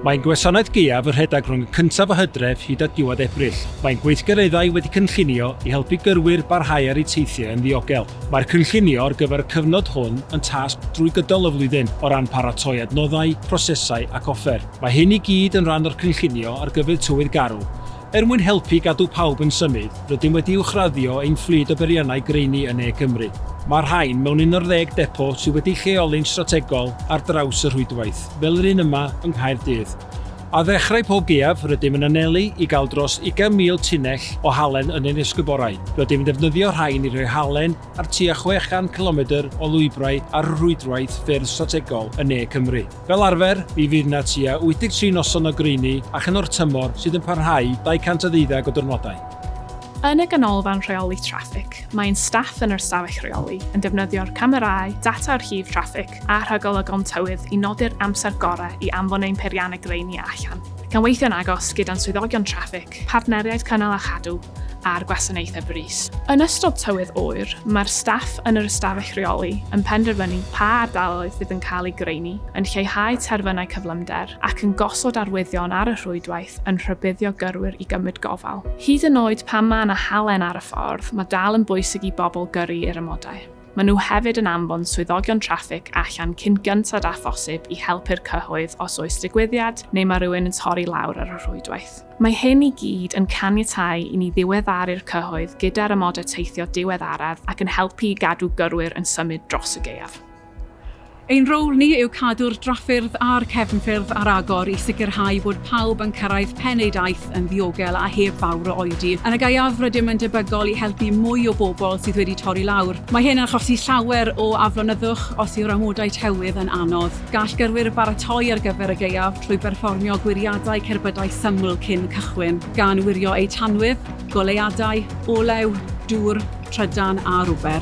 Mae'n gwasanaeth gaeaf y rhedeg rhwng y cyntaf o hydref hyd at diwedd Ebrill. Mae'n gweithgareddau wedi cynllunio i helpu gyrwyr barhau ar eu teithiau yn ddiogel. Mae'r cynllunio ar gyfer y cyfnod hwn yn tasg drwy gydol y flwyddyn, o ran paratoi adnoddau, prosesau ac offer. Mae hyn i gyd yn rhan o'r cynllunio ar gyfer tywydd garw, Er mwyn helpu i gadw pawb yn symud, rydym wedi uwchraddio ein fflyd o beriannau graeini yn ne Cymru. Mae rhain mewn un o'r ddeg depo sydd wedi'u lleoli'n strategol ar draws y rhwydwaith, fel yr un yma yng Nghaerdydd. Ar ddechrau pob gaeaf, rydym yn anelu i gael dros 20,000 tunnell o halen yn ein esgyborau. Rydym yn defnyddio rhain i roi halen ar tua 600 cilomedr o lwybrau ar y rhwydwaith ffyrdd strategol yn ne Cymru. Fel arfer, mi fydd 'na tua 83 noson o greini a chynorth tymor sydd yn parhau 200 a ddeuddeg o dyrnodau. Yn y Ganolfan Rheoli Traffig, mae ein staff yn yr Ystafell Reoli yn defnyddio'r camerâu, data archif traffig a rhagolygon tywydd i nodi'r amser gorau i anfon ein peirianneg greini allan, ac yn weithio'n agos gyda'n swyddogion traffig Ffrainc, Partneriaid Cynnal a Chadw a'r Gwasanaethau Brys. Yn ystod tywydd oer, mae'r staff yn yr ystafell reoli yn penderfynu pa ardaloedd fydd yn cael eu graenu, yn lleihau terfynau cyflymder ac yn gosod arwyddion ar y rhwydwaith yn rhybuddio gyrwyr i gymryd gofal. Hyd yn oed pan mae yna halen ar y ffordd, mae dal yn bwysig i bobl gyrru i'r amodau. Maen nhw hefyd yn anfon swyddogion traffig allan cyn gynted â phosib i helpu'r cyhoedd os oes digwyddiad neu mae rhywun yn torri lawr ar y rhwydwaith. Mae hyn i gyd yn caniatáu i ni ddiweddaru'r cyhoedd gyda'r amodau teithio diweddaraf ac yn helpu i gadw gyrwyr yn symud dros y gaeaf. Ein rôl ni yw cadw'r drafferth a'r cefnffyrdd ar agor i sicrhau bod pawb yn cyrraedd pen eu daith yn ddiogel a heb fawr o oedi. Yn y gaeaf, rydym yn debygol i helpu mwy o bobl sydd wedi torri lawr. Mae hyn yn achosi llawer o aflonyddwch os yw'r amodau tywydd yn anodd. Gall gyrwyr baratoi ar gyfer y gaeaf trwy berfformio gwiriadau cerbydau syml cyn cychwyn, gan wirio eu tanwydd, goleuadau, olew, dŵr, trydan a rwber.